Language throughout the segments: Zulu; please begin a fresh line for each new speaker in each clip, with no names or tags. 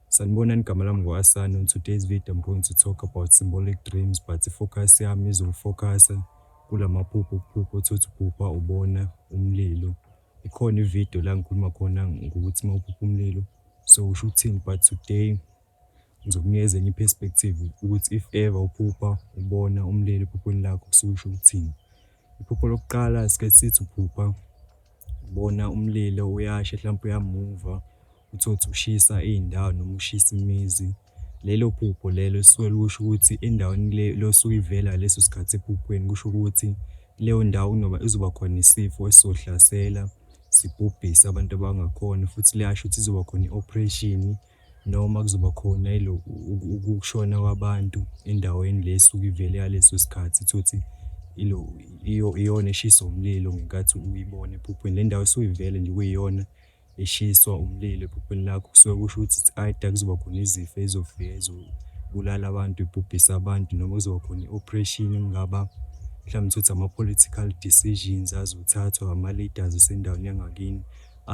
Sanibonani igama lami ngu Asani on today's video I'm going to talk about symbolic dreams but focus yami izofocasa kulamaphupho ukuphupha uthothi uphupha ubona umlilo ikhona ivideo la ngikhuluma khona ngokuthi uma uphupha umlilo so usho ukuthini but today ngizokunikeza enye iperspective ukuthi if ever uphupha ubona umlilo ephuphweni lakho kusuke usho ukuthini iphupho lokuqala sike sithi uphupha ubona umlilo uyashe mhlawumbe uyamuva Utholukuthi ushisa iy'ndawo noma ushisa imizi. Lelo phupho lelo lisuke likusho ukuthi endaweni le le osuke uyivela ngaleso sikhathi ephuphweni kusho ukuthi leyo ndawo kunoba izoba khona isifo esizohlasela sibhubhise abantu abangakhoni futhi liyasho ukuthi izoba khona i-operation noma kuzoba khona ukushona kwabantu endaweni le esuke ivele ngaleso sikhathi. Utholukuthi ilo iyona eshiswa umlilo ngenkathi uyibona ephuphweni. Le ndawo esuke ivele nje kuyiyona. eshiswa umlilo ebhubhini lakho kusuke kusho ukuthi it's either kuzoba khona izifo ezofika ezobulala abantu, ibhubhise abantu noma kuzoba khona i-operation engaba mhlawumbe ukuthi ama-political decisions azothathwa ama-leaders esendaweni yangakini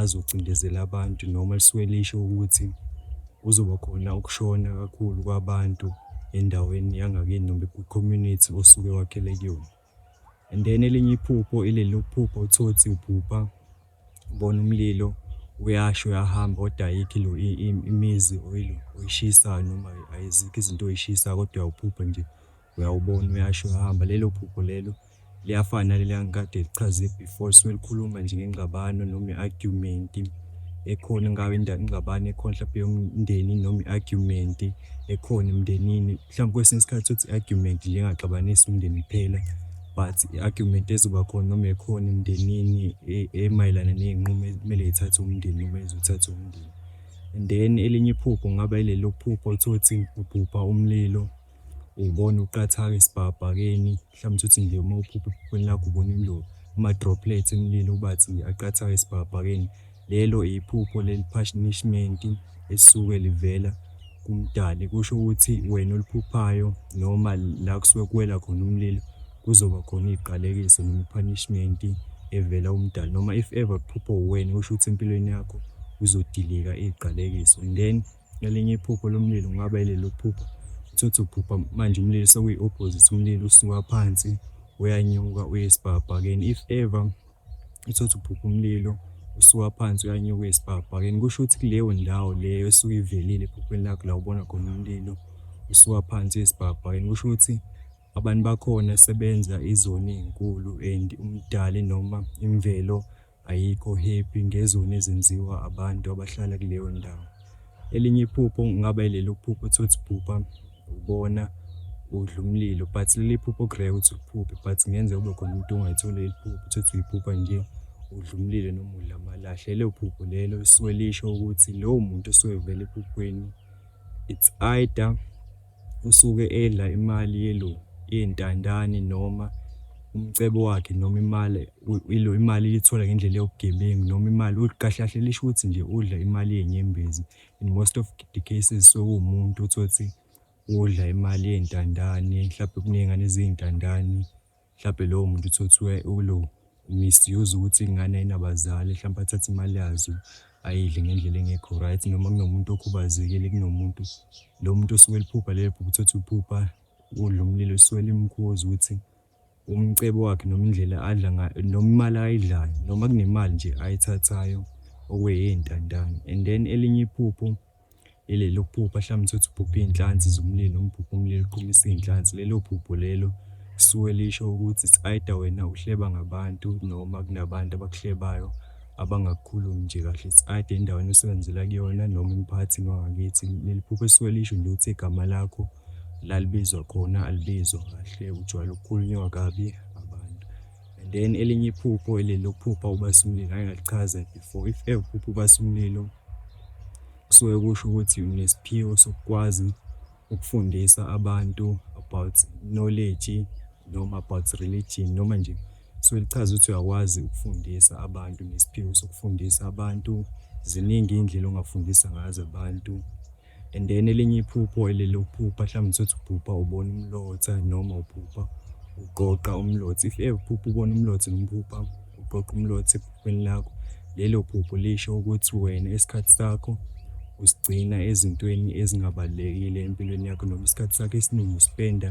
azocindezela abantu noma lisuke lisho ukuthi kuzoba khona ukushona kakhulu kwabantu endaweni yangakini noma kwi-community osuke wakhele kuyona. And then elinye iphupho ileli lokuphupha uthotsi uphupha ubona umlilo uyasho uyahamba kodwa ayikho lo imizi oyilo oyishisayo noma ayizikho izinto oyishisayo kodwa uyawuphupha nje uyawubona uyasho uyahamba lelo phupho lelo liyafana naleli angikade lichaze before suke likhuluma nje ngengxabano noma i-argument ekhona ngabe ingxabano ekhona mhlawumbe yomndeni noma i-argument ekhona emndenini Mhlawumbe kwesinye isikhathi uthi i-argument nje engaxabanisi umndeni kuphela but i-argument ezoba khona noma ekhona emndenini e-, emayelana ney'nqumo ekumele yithathe umndeni noma ezothatha umndeni and then elinye iphupho kungaba ilelo phupho uthole ukuthi ubhubha umlilo ubona uqathaka esibhakabhakeni Mhlawumbe uthi nje uma uphupha ephuphweni lakho ubona imlulu, ama-droplets emlilo ubathi aqathayo esibhakabhakeni, lelo iphupho le-punishment esuke livela kuMdali. Kusho ukuthi wena oliphuphayo noma la kusuke kuwela khona umlilo kuzoba khona iziqalekiso noma i-punishment evela uMdali. Noma if ever kuphupha uwena kusho ukuthi empilweni yakho kuzodilika iziqalekiso and then Elinye iphupho lomlilo kungaba ileli lokuphupha uthothe uphupha manje umlilo sekuyi-opposite umlilo usuka phansi uyanyuka uye esibhakabhakeni if ever uthothe uphupha umlilo usuka phansi uyanyuka uye esibhakabhakeni kusho ukuthi kuleyo ndawo leyo esuke ivelile ephuphweni lakho la ubona khona umlilo usuka phansi uye esibhakabhakeni kusho ukuthi abantu bakhona sebenza izoni ey'nkulu and umdali noma imvelo Ayikho happy ngezoni ezenziwa abantu abahlala kuleyo ndawo. Elinye iphupho kungaba ileli uphupho uthi uthi phupha ubona udla umlilo but leli phupho okureke ukuthi uphuphe but ngenzeka ube khona umuntu ongayitholi leli phupho uthi uthi uyiphupha nje udla umlilo noma udla amalahle. Lelo phupho lelo lisuke lisho ukuthi lowo muntu osuke evela ephuphweni it's either usuke edla imali yelo yentandane noma umcebo wakhe noma imali ilo imali ilithola ngendlela yobugebengu noma imali kahle kahle lisho ukuthi nje udla imali yenyembezi in most of the cases sewumuntu uthole ukuthi udla imali yentandane mhlawumbe kuney'ngane eziyintandane. Mhlampe lowo muntu uthothiwe ulo misuse ukuthi ingane ayinabazali mhlampe athathe imali yazo ayidle ngendlela engekho right noma kunomuntu okhubazekile kunomuntu lo muntu osuke eliphupha lelo phupha uthothi uphupha udla umlilo usuke limkhuza ukuthi umcebo wakhe noma indlela adla ngayo noma imali ayidlayo noma kunemali nje ayithathayo okweyintandane and then elinye iphupho Ileli lokuphupha hlampe utholukuthi uphuphe iy'nhlansi zomlilo noma uphuphe umlilo uqhumisa iy'nhlansi. Lelo phupho lelo lisuke lisho ukuthi it's either wena uhleba ngabantu noma kunabantu abakuhlebayo abangakukhulumi nje kahle. It's either endaweni osebenzela kuyona noma emphakathini wangakithi. Leli phupho lisuke lisho nje ukuthi igama lakho la libizwa khona alibizwa kahle, ujwayele ukukhulunywa kabi abantu. and then elinye iphupho eli lokuphupha ubasa umlilo ngake ngalichaza before if ever uphupha ubasa umlilo kusuke kusho ukuthi unesiphiwo sokukwazi ukufundisa abantu about knowledge noma about religion noma nje so lichaza ukuthi uyakwazi ukufundisa abantu nesiphiwo sokufundisa abantu ziningi iy'ndlela ongafundisa ngazo abantu And then elinye iphupho elele uphupha mhlawumbe usuthi uphupha ubona umlotha noma uphupha uqoqa umlotha if ever uphupha ubona umlotha noma uphupha uqoqa umlotha ephuphweni lakho lelo phupho lisho ukuthi wena isikhathi sakho usigcina ezintweni ezingabalulekile empilweni yakho noma isikhathi sakho esiningi usipenda